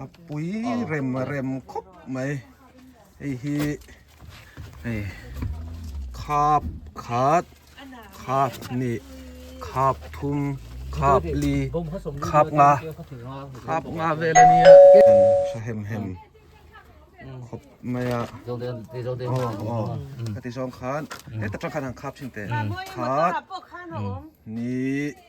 a pui rem rem khawp mai hei hi hei khap khat khap hnih khap thum khap li khap nga khap nga vel a nia em hre hem hem khawp mai a heti zawng khan heta tang khan an khap thin teh khat ni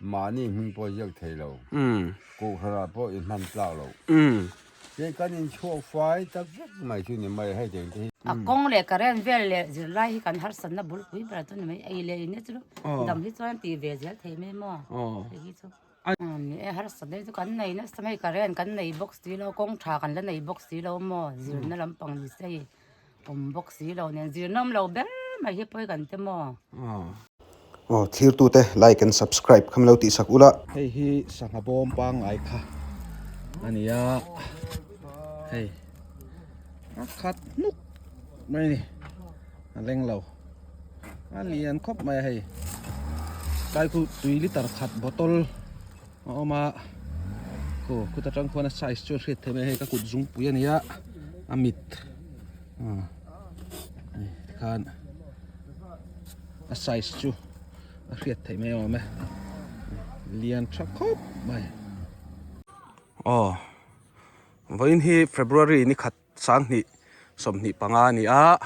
mahni hming pawh ziak thei lo, kawhhranah pawh i hman tlak lo. Kei kan inchhuak fai tak vek mai chu ni mai a, hei tengte hi. A kawng leh ka ren vel leh zirlai hi kan harhsanna bul pui ber chu ni mai a, ei leh in hi chu dam hi chuan ti ve zel thei mai maw? Hei hi chu. Ni e, harsa daih chu kan nei nasam hei ka ren kan nei bawk si lo, kawngtha kan la nei bawk si lo maw zirna lampang ni se. awm bawk si lo nen zir nawm lo ber mai hi pawi kan ti maw aw thlir tu te like and subscribe kha min lo tih sak ula hei hi sangha bawm pangngai kha a ni a hei a khat nuk mai ni a leng lo a lian khawp mai a hei kai khu tui litre khat bottle A awm a, aw kut atang khuan a size chu a hriat theih mai a hei ka kut zungpui a ni a, a mit aw hei tikhan a size chu a hriat theih mai a awm e, lian tha khawp mai. Aw vawiin hi February ni khat Sanghnih, sawmhnih panga a ni a,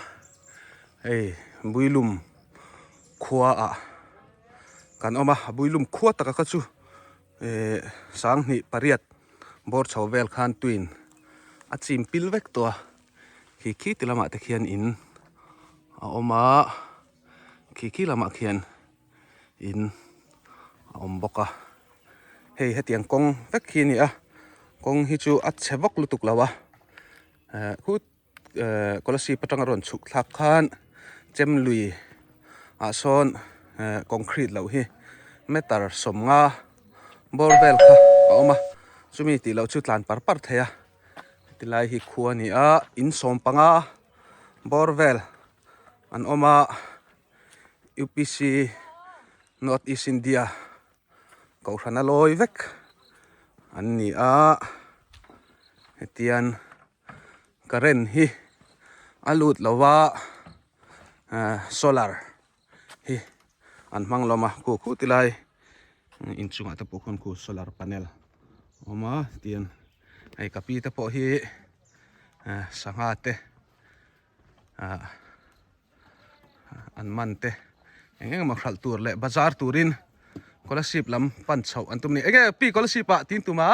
hei Builum khuaah kan awm a, Builum khua taka kha chu eh Sanghnih pariat bawr chho vel khan tuiin a chim pil vek tawh a, khi khi ti lamah te khian in a awm a, khi khi lamah khian. in a awm bawk a hei hetiang kawng vek hi a ni a kawng hi chu a chhe vak lutuk lo a eh khut eh khawlasi pa tanga rawn chhuk thlak khan chem lui ah sawn eh concrete loh hi meter sawmnga bawr vel kha a awm a chumi tih loh chu tlan par par thei a heti lai hi khua a ni a in sawm panga bawr vel an awm a. UPC North East India Kohhran a lawi vek an ni a, hetian current hi a lut lo va ahh solar hi an hmang hlawm a, khu khu ti lai inchungah te pawh khawn khu solar panel a awm a tian hei ka pi te pawh hi sangha te. ah an man te eng eng emaw hralh tur leh bazar turin colarship lam pan chhoh an tum a ni enge pi colarship ah tin tuma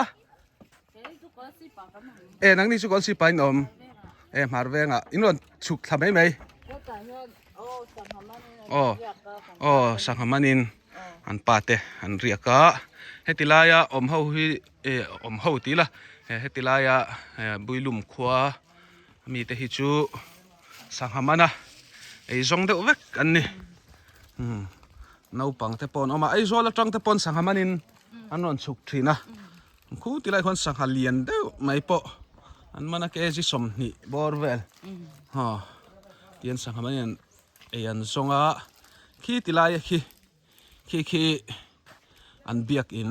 e nang ni chu colarship ah in awm e hmar venga in rawn chhuk thla mai mai aw aw sangha manin an pa te an riak a heti laia awm ho hi awm ho tih ila heti laia builum khua. mite hi chu sangha man a ei zawng deuh vek an ni umm naupang te pawh an awm a aizawl atang te pawh sangha man in an rawn chhuk thin a khu ti lai khawn sangha lian deuh mai pawh an man a kg sawmhnih bawr vel haw tian sangha man in ei an zawng a khi ti lai khi khi khi an biak in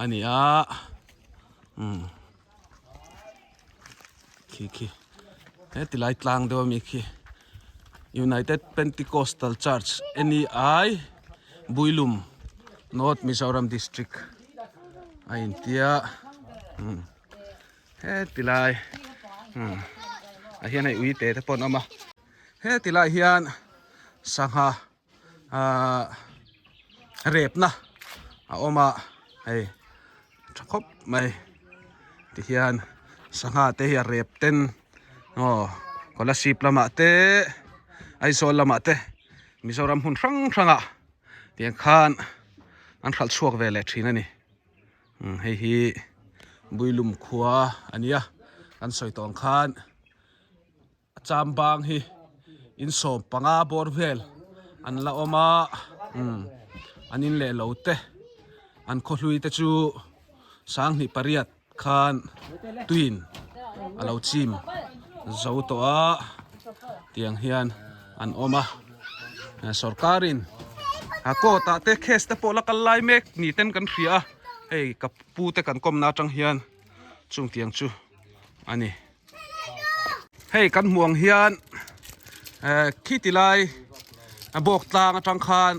a ni a um khi khi heti lai tlang deuh ami khi united pentecostal church ni ai builum north mizoram district a in tia um heti lai um a hian hei ui te te pawh an awm a heti lai hian sangha aah repna a awm a hei tha khawp mai tihian sangha te hi a rep ten aw khawlasip lamah te aizawl lamah te mizoram hmun hrang hrang ah tiang khan an hralh chhuak ve leh thin a ni umm hei hi builum khua a nia kan sawi tawh ang khan-- A cham bang hi insawm panga bawr vel an la awm a, umm an in leh lo te an khawhlui te chu sanghnih pariat khan tuiin a lo chim zo tawh a tiang hian an awm a, sorkarin a court ah te case te pawh la kal lai mek ni ten kan hria a, hei ka pu te kan kawmna atang hian chungtiang chu a ni. Hei kan hmuh ang hian khiti lai bawk tlang atang khan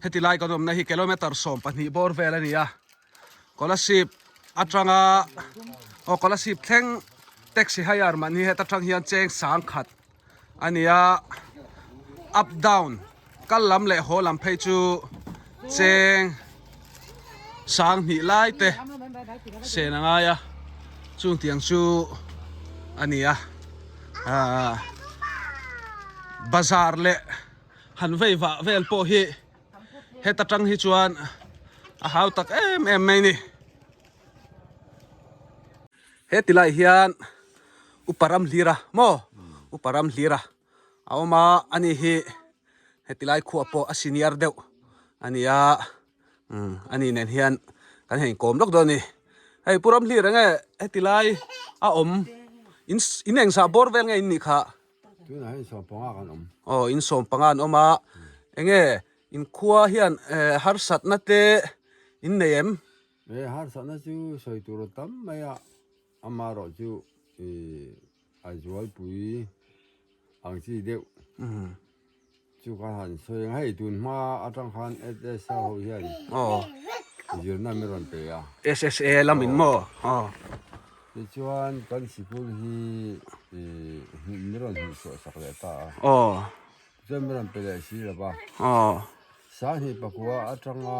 heti lai kan awmna hi kilometer sawm pahnih bawr vel a ni a scholarship atanga aw scholarship thleng taxi hire mahni heta tang hian cheng sangkhat-- a ni a up down kal lam leh haw lam phei chu cheng sang hnih lai te sen a ngai a chung tiang chu a ni a ah bazar leh han vei vah vel pawh hi heta tang hi chuan a hau tak em em mai a ni. He ti lai hian upa ram hlir a maw? Upa ram hlir a a awm a, ani hi he ti lai khuaa pawh a senior deuh a ni a, ani nen hian kan heng kawm lawk dawn a ni. Hei pu ram hlir enge he ti lai a awm in in eng sah bawr vel nge in nih kha? Tunah hian in sawm panga kan awm. Aw in sawm panga an awm a, enge in khua hian harsatna te in nei em? He harsatna chu sawi tur a tam mai a, ama erawh chu ih a zualpui ang chi deuh chu kha han sawi ang a, hei tun hma atang khan SSL ho hian zirna an mi rawn pe a, SSL a min maw aw, tichuan kan sikul hi ih hnih an mi rawn hnih suahsak leh ta a, aw tichuan an mi rawn pe leh si lova, aw sa hnih pakua atanga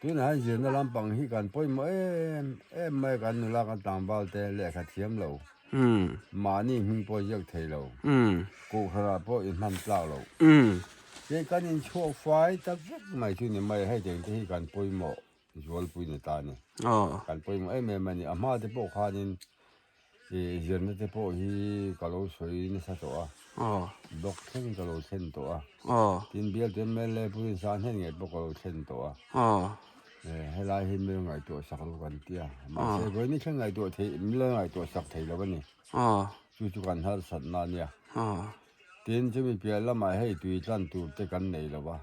Tunah zirna lampang hi kan pawimawh em em mai a, kan nula kan tlangval te lehkha thiam lo, mahni hming pawh ziak thei lo, kawhhranah pawh i hman tlak lo. Kei kan inchhuak fai tak vek mai chu ni mai a, hei tengte hi kan pawimawh zualpui ni ta a ni, kan pawimawh em em a ni. A hmate pawh khanin Eh zian na te pawh hi ka lo sawi nasa tawh a, dawk thlengin ka lo thlen tawh a, tin Bialte MLA Pu Rin Sanhen ngei pawh ka lo thlen tawh a, eh helai hi mil ngaihtuah sak lo kan ti a, mahse vawi ni thlen ngaihtuah theih mil ngaihtuah sak theih lo a ni, chu chu kan harsatna a nia. Tin, chu mi piah lamah hei tui tlan tur te kan nei lo va,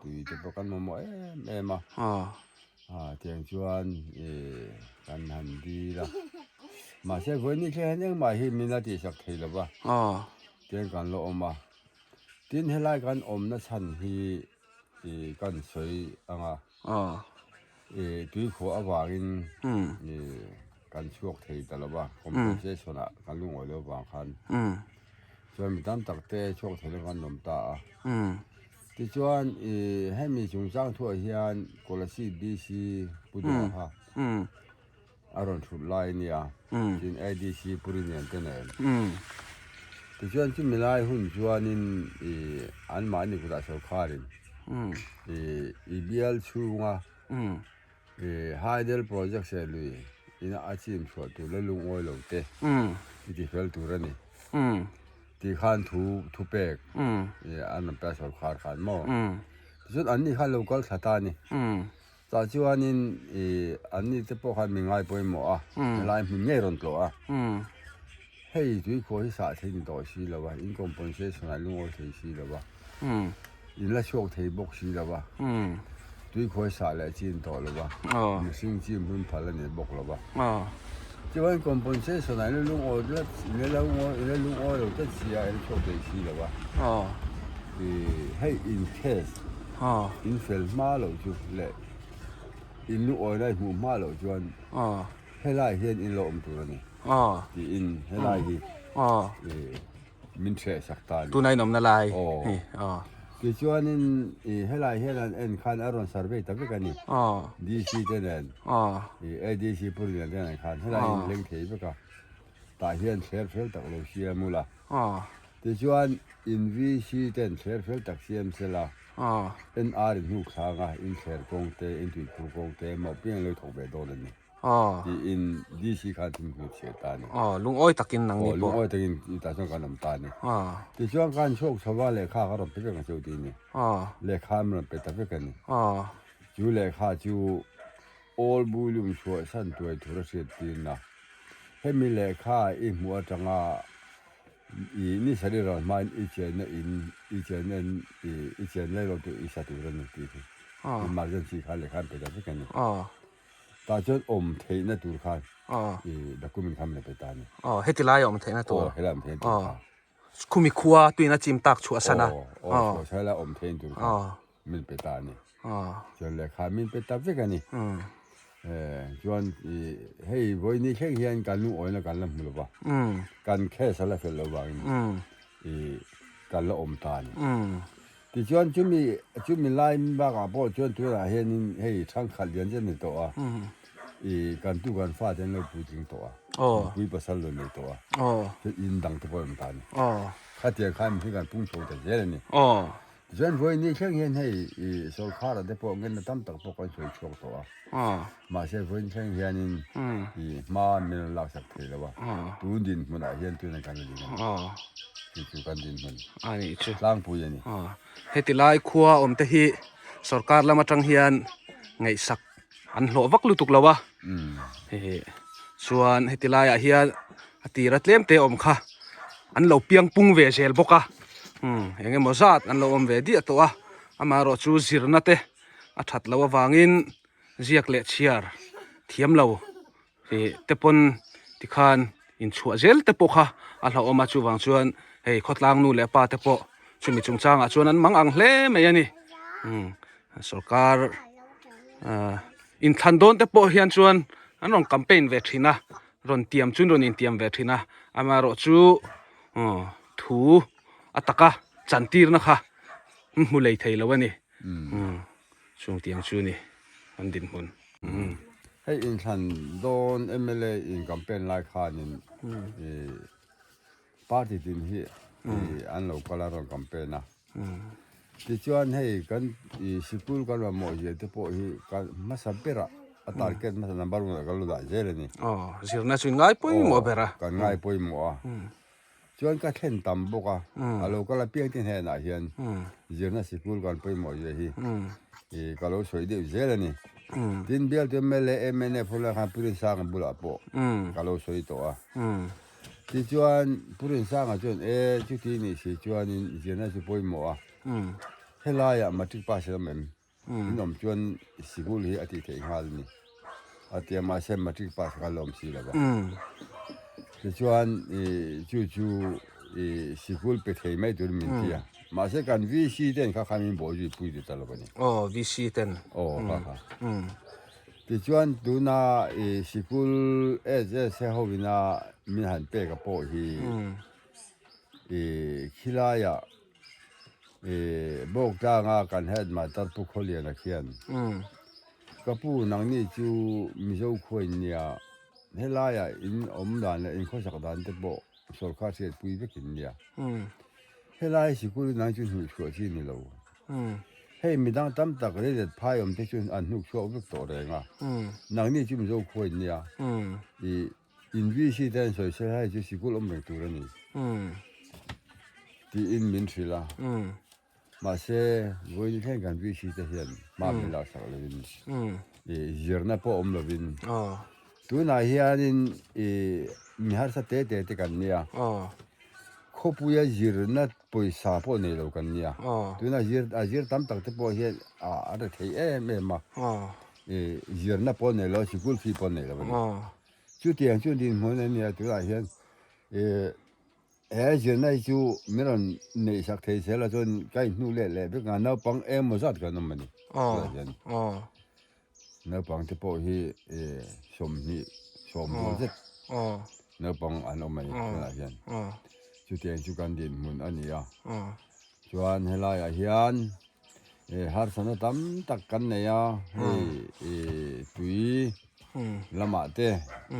tui te pawh kan mamawh em em a, tiang chuan kan han dil a, mahse vawiin tlem hian engmah hi min a tihsak thei lo va, tiang kan la awm a, tin helai kan awmna chhan hi. kan sawi ang a, tuikhuah avangin kan chhuak thei ta lo va, compensation ah kan lungawi lo vang khan chuan mi tam tak te chhuak thei lova an awm ta a, tichuan hemi chungchang thuah hian Kolasib BC Puduaha. A rawn chhut lai nia, tin ADC Puri Nian te nen. Tichuan chumi lai hun chuanin i anmahni kutah Sawrkharin i i bial chhunga i Hydel Project seh lui in a chim chhuah tur la lungawi lo te i tihfel tur a ni tih khan thu thu pek an rawn pe a Sawrkhar khan maw. Tichuan anni khan lo kal thla ta a ni. Tah chuanin i anni te pawh khan min ngaipawimawh a, helai hmun ngei rawn tlawh a. Hei tuikhuah hi sah thei ni tawh si lo va, in compensation ah i lungawi thei si lo va, in la chhuak thei bawk si lo va, tuikhuah hi sah leh chin tawh lo va, mihring chin hmun phal a nei bawk lo va. Chuan compensation ah ina lungawi ila ina lo ngawi ina lungawi lo tlat si a ina chhuak thei si lo a i hei in case in fel hma lo chu leh in luhawina i hmuh hma lo chuan helai hian in lo awm tur a ni tiin helai hi i. min hreh chak ta ni. Tuna in awmna lai hi aw. Tichuanin i helai hian an en khan a rawn survey ta vek a ni. Aw. DC te nen. Aw. I adc purina te nen khan helai in leng thei vek a. Tah hian thler fel tak lo siam u la. Aw. Tichuan in VC ten thler fel tak siam se la. Aw. NR in hnuk thlanga in thler kawng te in tuihpur kawng te mawhpiang in lo thawk ve dawn a ni. Aw. Tiin DC khan thim hnu chhiat ta nen. Aw, lungawi takin nang ni pawh. Aw, lungawi takin i tah chuan kan awm ta nen. Aw. Tichuan khan chhuak chho va lehkha ka rawn pe vek ang che u ti nen. Aw. Lehkha an rawn pe ta vek a ni. Aw. Chu lehkha chu All Builum Chhuahsan Tuai Tur a hriat tirna a. Hemi lehkha i hmuh atanga i ni sa rih ran hmain i chenna in, i chenna in i, i chen leh rawh tih i sa tur a ni tih hi. Aw. Emergency khan lehkha an pe ta vek a ni. Aw. Tah chuan awm theihna tur khan i document khan la pe ta ni. Aw, heti laia awm theihna tur. Aw, helai awm theihna tur kha. Aw, khumi khua tuin a chim tak chhuah sana. Aw, aw, chhuah chhuah helai awm theihna tur kha. Aw. Min pe ta ni. Aw. Chuan lehkha min pe ta vek a ni. Umm. Eh, chuan i hei vawini thleng hian kan lung awina kan la hmu lo va. Umm. Kan case a la fel lo vangin. Umm. I kan la awm ta a ni. Umm. Tichuan chumi chumi lai bakah pawh chuan tunah hianin hei thangkhal lian zet nei tawh a, i kan tu kan fate an lo puitling tawh a, mipui pasal lo nei tawh a, chuan in dang te pawh a awm ta a ni. Khatiang khan mihring kan pung chho ta zel a ni. Tichuan vawiin ni thleng hian hei i sorkharah te pawh ngenna tam tak pawh kan sawi chhuak tawh a. Mahse vawiin thleng hianin i hma an min rawn laksak thei lo a, tu dinhmunah hian tun an kan la ding a ni. Chu chu kan dinhmun tlangpui a ni. Heti lai khua awm te hi sorkar lam atang hian ngaihsak an hlawh vak lutuk lo a. Chuan heti laiah hian a tira tlem te awm kha an lo piang pung ve zel bawk a. Eng emaw zat an lo awm ve diah tawh a, amaherawhchu zirna te a that loh avangin ziak leh chhiar thiam lo ih te pawn ti khan inchhuah zel te pawh kha a hlauhawm a chuvang chuan hei khawtlang nu leh pa te pawh chumi chungchangah chuan an mang ang hle mai a ni umm sorkar ah inthlan dawn te pawh hian chuan an rawn campaign ve thin a rawn tiam chu an rawn intiam ve thin a amaherawh chu aw thu a taka chantirna kha hmu lei thei lo a ni umm. Chhung tiang chu ni an dinhmun. Hei inthlan dawn mla in campaign lai khan in i party tin hi i an lo kal a rawn campaign a. Tichuan hei kan i sikul kan rawn mawh zel te pawh hi kan hmasa ber a a target hmasa number one ah kan lo dah zel a ni. Aw zirna chu in ngai pawimawh ber a. Aw kan ngai pawimawh a. Chuan ka thlen tam bawk a, a lo kal a Piangte hnenah hian zirna sikul kan pawimawh zia hi i ka lo sawi deuh zel a ni. Tin, bial tu mla, mnf ho lai khan Purinsanga bulah pawh ka lo sawi tawh a. Tichuan, Purinsanga chuan e, chuti ni si chuanin zirna chu pawimawh a, helaiah matric pass i rawm em? In awm chuan i sikul hi a tih theih nghal a ni. A tiang mahse matric pass kha la awm si lova. Tichuan i chu chu i sikul pe thei mai tur min ti a. Mahse kan VC ten kha kha min buaipui pui ta ta lova ni. Aw, VC ten. Aw, kha kha. Tichuan tuna i sikul SS he ho ina min han pek a pawh hi i khilaiah I bawk tlanga kan headmaster Pu Khawliana khian, Ka pu nang ni chu Mizo khuain nia, helaia in awm dan leh in khawsak dan te pawh sorkar hriatpui vekin nia, helai sikul in nang chu hnuih chhuah chi ni lo, hei midang tam tak leilet phaiawm te chu an hnuk chhuak vek tawh reng a, nang ni chu Mizo khuain nia, i. In busy te a insawi sel a, hei chu sikul awm reng tur a ni. Tiin min hrilh a. Mahse, vawiin thleng kan busy te hian hma min la sak lovin i zirna pawh awm lovin, tunah hianin i mi harsa te te te kan nia, khawpuia zirna pawisa pawh nei lo kan nia. Tunah a zir tam tak te pawh hian a ret thei em em a. Eh, zirna pawh nei lo a, sikul fee pawh nei lo a ni. Chutiang chuan dinhmun a nia, tunah hian eh, he zirna hi chu min rawn neih sak thei zel a chuan ka inhnu leh leh vek a, naupang engemaw zat kan awm a ni. Tunah hian naupangte pawh hi eh, sawmhnih, sawmdawn zet naupang an awm a ni tunah hian. Chutiang chu kan dinhmun a ni a. Chuan helaiah hian eh harsana tam tak kan nei a hei eh tui lamah te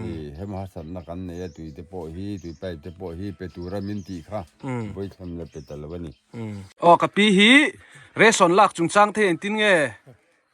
i hem harsatna kan nei a tui te pawh hi tui pipe te pawh hi pe tura min tih kha vawithlem la pe ta lo a ni. Aw ka pi hi ration lak chungchang thei engtin nge?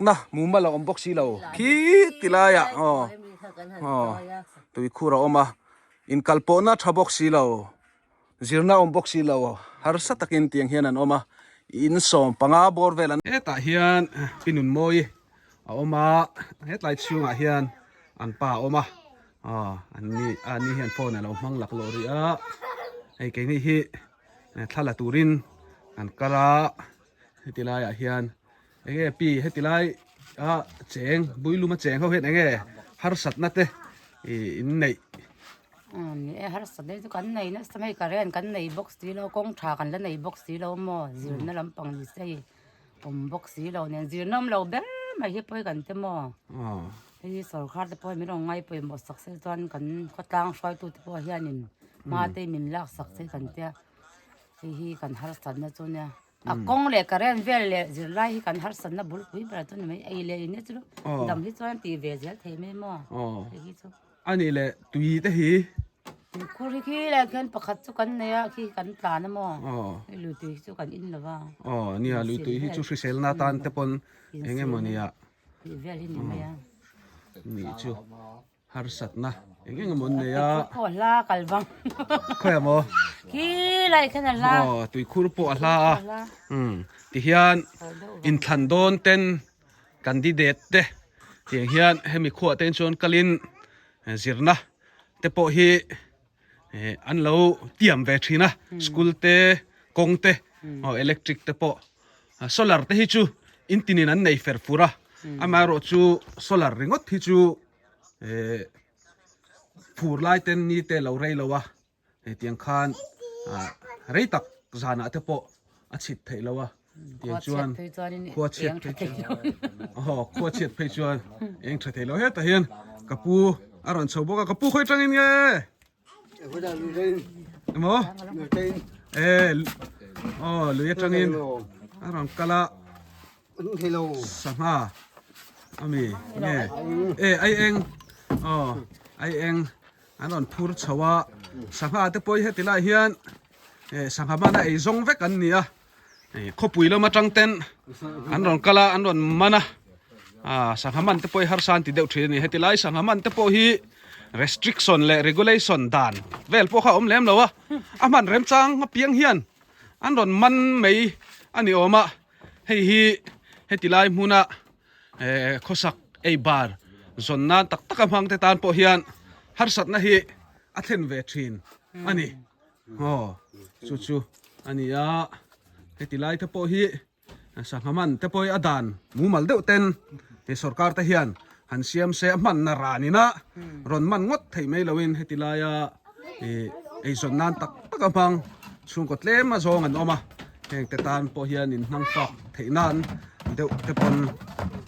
Na mumala awm bawk si lo khi ti lai a aw aw tui khur a awm a in kal pawh na tha bawk si lo zirna awm bawk si lo harsa takin tiang hian an awm a i in sawm panga bawr vel an hetah hian pi nun mawi a awm a hetlai chhung ah hian an pa a awm a aw an ni a ni hian phone a lo hmang lak lawh rih a hei keng hi hi thla la turin an kal a heti lai ah hian Eng nge pi hetilai a cheng bui luma cheng ho hian eng nge harsat na te in neih ni e harsat nei chu kan nei na se mai karen kan nei bawk si lo kawng tha kan la nei bawk si lo maw zirna lampang ni se i awm bawk si lo nen zirna awm lo ber mai hi pawi kan ti maw hei hi sorkar te pawh min rawn ngai pawimawh sak se chuan kan khawtlang hruaitu te pawh hianin hma te min laksak che kan tia hei hi kan harsatna chu nia. A kawng leh ka rên vel leh zirlai hi kan harsatna bul pui ber chu ni mai. Ei leh in hi chu dam hi chuan tih ve zel thei mai maw? Hei hi chu. A nih leh tui te hi. Tui khur hi khi leh khian pakhat chu kan nei a, khi hi kan tlan a maw? Hei lui tui hi chu kan in lo va. Aw nia lui tui hi chu hriselna atan te pawn eng emaw nia. Tih vel hi ni mai a. Nih chu. Harsatna eng eng amaw an nei a. Tui khur pawh a hla kal vang. Khawi a maw? Khi lai khan a hla. Aw tui khur pawh a hla a. Umm tihian inthlan dawn ten candidate te tiang hian hemi khuate'n chuan kalin zirna te pawh hi. an lo tiam ve thin a school te kawng te aw electric te pawh solar te hi chu in tin in an nei fer fur a ama erawh chu solar ringawt hi chu eh phur lai ten ni te lo rei lo a hetiang khan rei tak zan ah te pawh a chhit theih lo a. Khua chhiat phei chuanin eng tha theilo. Aw, khua chhiat phei chuan eng tha theilo. Hetah hian ka pu a rawn chho bawk a. Ka pu khawi tangin nge? Emaw? E, aw lui atangin a rawn kal a. Sangha a mi nge? E, ai eng, aw ai eng an rawn phur chho a. Sangha te pawh hi heti lai hian e sangha hmana ei zawng vek an ni a. Khawpui lama tang ten an rawn kal a, an rawn man a. Aa, sangha man te pawh hi harsa an ti deuh thin a ni. Heti lai sangha man te pawh hi restriction leh regulation dan vel pawh kha a awm lem lo a. A hman remchang apiang hian an rawn man mai a ni awm a. Hei hi heti lai hmuna eh khawsak ei bar zawn nan tak taka hmang te tan pawh hian harsatna hi a thlen ve thin a ni. Aw, chu chu a ni a, heti lai te pawh hi sangha man te pawh a dan mumal deuh ten he sorkar te hian han siam se a hmanna ran ina rawn man ngawt thei mai lo in heti laia eizawn nan tak tak a hmang chhungkaw tlem a zawng an awm a heng te tan pawh hian in hmang fak theih nan deuh te pawn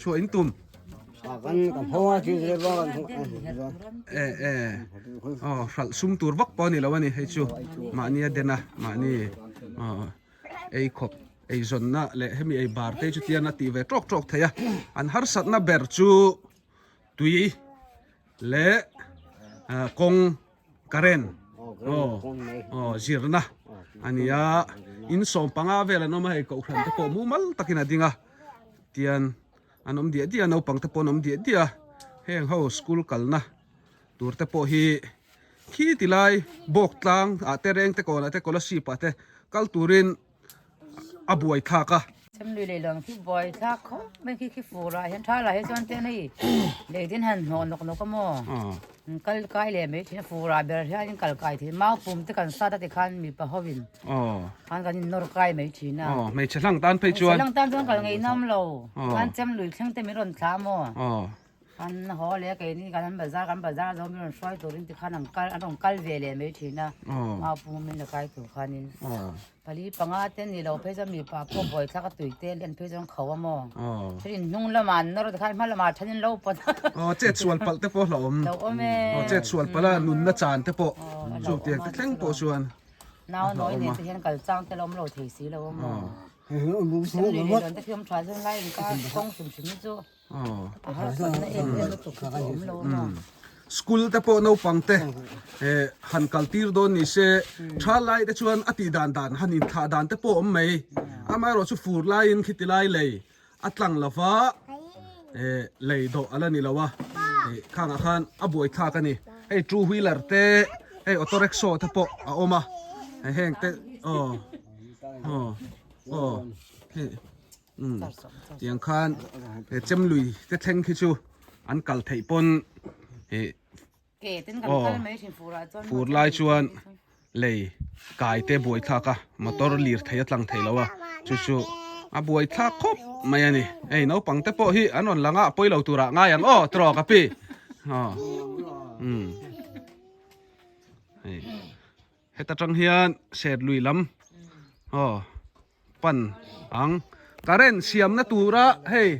Chhuah in tum. A kan ka hmo a chu zela kan hmu a ni lo. E e. Aw hralh sum tur vak pawh a ni lo a ni hei chu. Mahni a den a mahni aw ei khawp ei zawnna leh hemi ei bar te chu tian a tih ve tawk tawk thei a. An harsatna ber chu tui leh kawng. current aw aw zirna a ni a in sawm panga vel an awm a hei kohhran te pawh mumal takin a ding a tian an awm diah diah a naupang te pawh an awm diah diah a heng ho school kalna tur te pawh hi khi ti lai bawk tlang ah te reng te kawn ah te scholarship ah te kal turin-- a buai thlak a. Chemlui lei lawng khi buai thlak khawp mai khi khi fur ah hian thal ah hi chuan chen hi lei ten han hnawh nawk nawk a maw kal kai leh mai thin a fur ah ber hian in kal kai thin mau pum te kan sat a ti khan mipa ho in khan kan in nawr kai mai thin a hmeichhe hlang tan phei chuan hmeichhe hlang tan chuan kal ngei nawm lo khan chemlui thleng te min rawn thla maw. An la haw leh a, kei ni kan bazar kan bazar zawng min rawn hruai turin ti khan an kal an rawn kal ve leh mai thin a, mau pawh min la kai tur khanin pali panga te ni lo phei chuan mipa pawh buai thlak a tuite a lian phei chuan kho a maw, thil in hnung lamah an nawr a ti khan i hma lamah thanin lo pawt a, aw chet sual palh te pawh la awm, lo awm e, aw chet sual palh a nunna chan te pawh chu tiang te thleng pawh chuan nau nawi nen te hian kal chang te la awm lo thei si lo a maw, hrem lui leh dawn te khi awm tha chuan lai in kar kawng hrim hrim hi chu. School te pawh naupang te han kal tir dawn ni se tha lai te chuan a tih dan dan han inthlah dan te pawh awm mai amah erawh chu fur lai in khiti lai lei a tlang lova lei dawh ala ni lo a tih khang ah khan a buai thlak a ni hei two wheeler te hei auto rickshaw te pawh a awm a heng te aw aw aw. um tiang khan he chem lui te thleng khi chu an kal thei pon he ke ten kan kal mai thin fur a chuan fur lai chuan lei kai te buai thlak a motor lir thei atlang thei lo a chu chu a buai thlak khawp mai a ni hei naupang te pawh hi an rawn lang a pawilo tur ah ngai ang aw trawk a pi aw um hei Heta tang hian sêt lui lam aw pan ang current siamna tura hei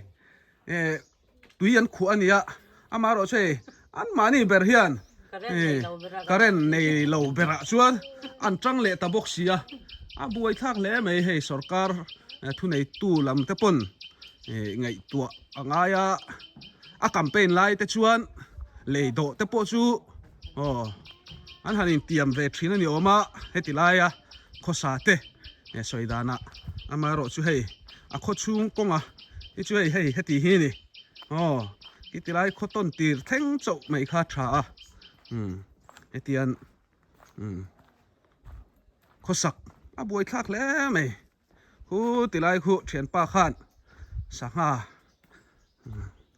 eh tui an khuh a nia amaherawh chu hei anmahni ber hian current nei lo berah chuan an ṭang leh ta bawk si a, a buaithlak hle mai hei sawrkar thuneitu lam te pawn ngaihtuah a ngai a, a campaign lai te chuan lei dawh te pawh chu. Aw an han intiam ve thin a ni awm a, heti laia khawsa te sawi dana amaherawh chu hei a khaw chhung kawnga hi chu hei hei heti hi a ni. Aw hi ti lai khawtawn tir thleng chauh mai kha a tha a, umm hetian umm khawsak a buai thlak hle mai. Hu ti lai khuh thianpa khan sangha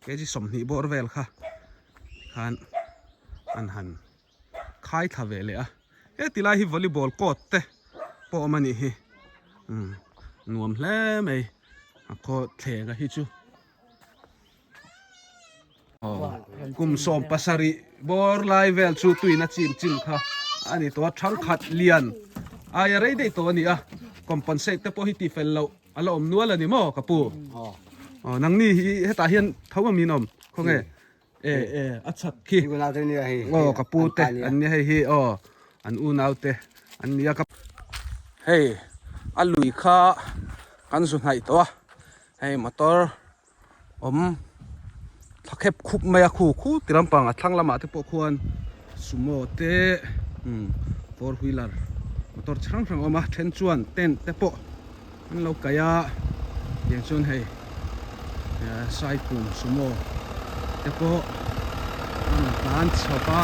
kg sawmhnih bawr vel kha khan an han khai thla ve leh a heti lai hi volleyball court te pawh awm a nih hi umm nuam hle mai a khaw thleng a hi chu. Kum sawm pasarih bawr lai vel chu tuin a chim chin kha a ni tawh a, thangkhat lian aia rei daih tawh a ni a, compensate te pawh hi tih fel loh a la awm nual a ni maw ka pu? Aw, nangni hi hetah hian tho awmin awm khawnge? e e a chhak khi i unau te ni a hi aw ka pu te an ni hei hi aw an unau te an ni a ka hei a lui kha kan zu hnai tawh a hei motor awm tha khep khup mai a khu khu ti lampang a thlang lamah te pawh khuan sumo te umm four wheeler motor chi hrang hrang a awm a then chuan tent te pawh an lo kaih a tiang chuan hei ah saikum sumo te pawh an rawn tlan chhawp a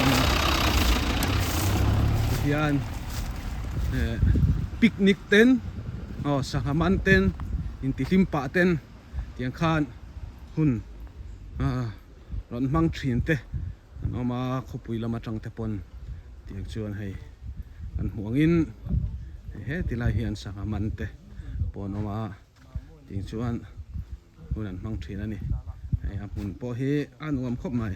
umm tihian eh picnic ten aw sangha man ten intihlim pah ten tiang khan hun ah. rawn hmang thin te an awm a khawpui lam atang te pawn tiang chuan hei kan hmuh ang in hei he ti lai hian sangha man te pawh an awm a tiang chuan hun an hmang thin a ni hei a hmun pawh hi a nuam khawp mai.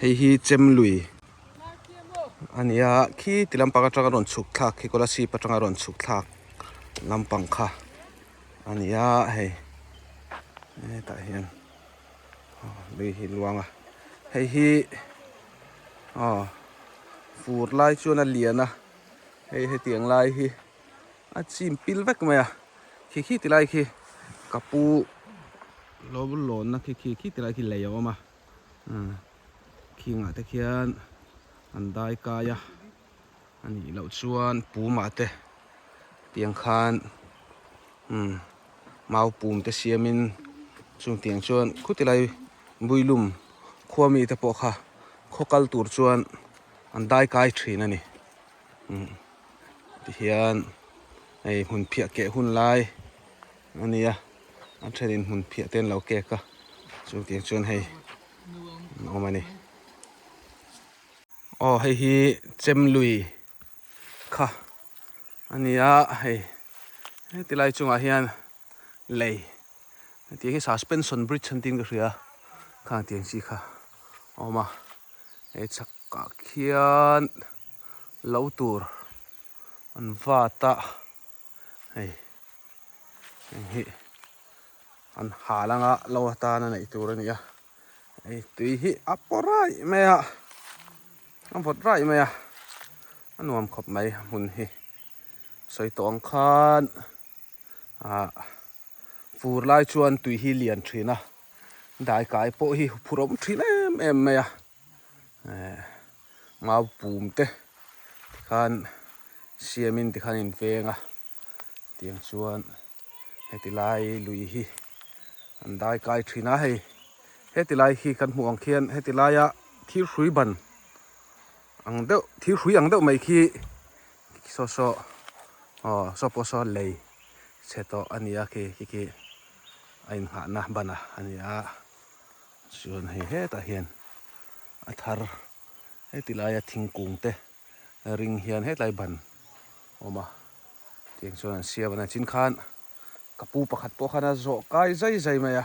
Hei hi chemlui a ni a khi ti lampang atanga rawn chhuk thlak khi colarship atanga rawn chhuk thlak lampang kha a ni a hei hetah hian aw lui hi luang a hei hi aw fur lai chuan a lian a hei hetiang lai hi-- A chim pil vek mai a, khi khi ti lai khi ka pu lo lawnna khi khi khi ti lai khi lei a awm a, khi ngah te khian an dai kai a, a nih loh chuan pu mah te tiang khan mau pum te siam in chung tiang chuan khu ti lai builum khua mi te pawh kha khaw kal tur chuan an dai kai thin a ni. ti hian hei hmun phiah keh hun lai a nia a thenin hmun phiah te an lo kek a chutiang chuan hei an awm a ni aw hei hi chem lui kha a nia hei heti lai chungah hian lei hetiang hi suspension bridge han tih ang ka hria khang tiang chi kha a awm a he chhakah khian-- lo tur an vat a hei heng hi an hal anga lo atan a neih tur a ni a hei tui hi a paw raih mai a a vawt raih mai a a nuam khawp mai a hmun hi sawi tawh ang khan ah fur lai chuan tui hi lian thin a daikai pawh hi phurh awm thin em em mai a. ehh mau pum te tikhan siam in tikhan in veng a tiang chuan heti lai lui hi an dai kai thin a hei heti lai hi kan hmuh ang khian heti laia thil hrui ban ang deuh thil hrui ang deuh mai khi saw saw aw saw pawh saw lei chhe tawh a nia khi khi khi a inghahna ban a ni a. Chuan hei hetah hian a thar heti laia thingkung te ring hian hetlai ban awm a tiang chuan an siam a nia chin khan ka pu pakhat pawh khan a zawh kai zai zai mai a.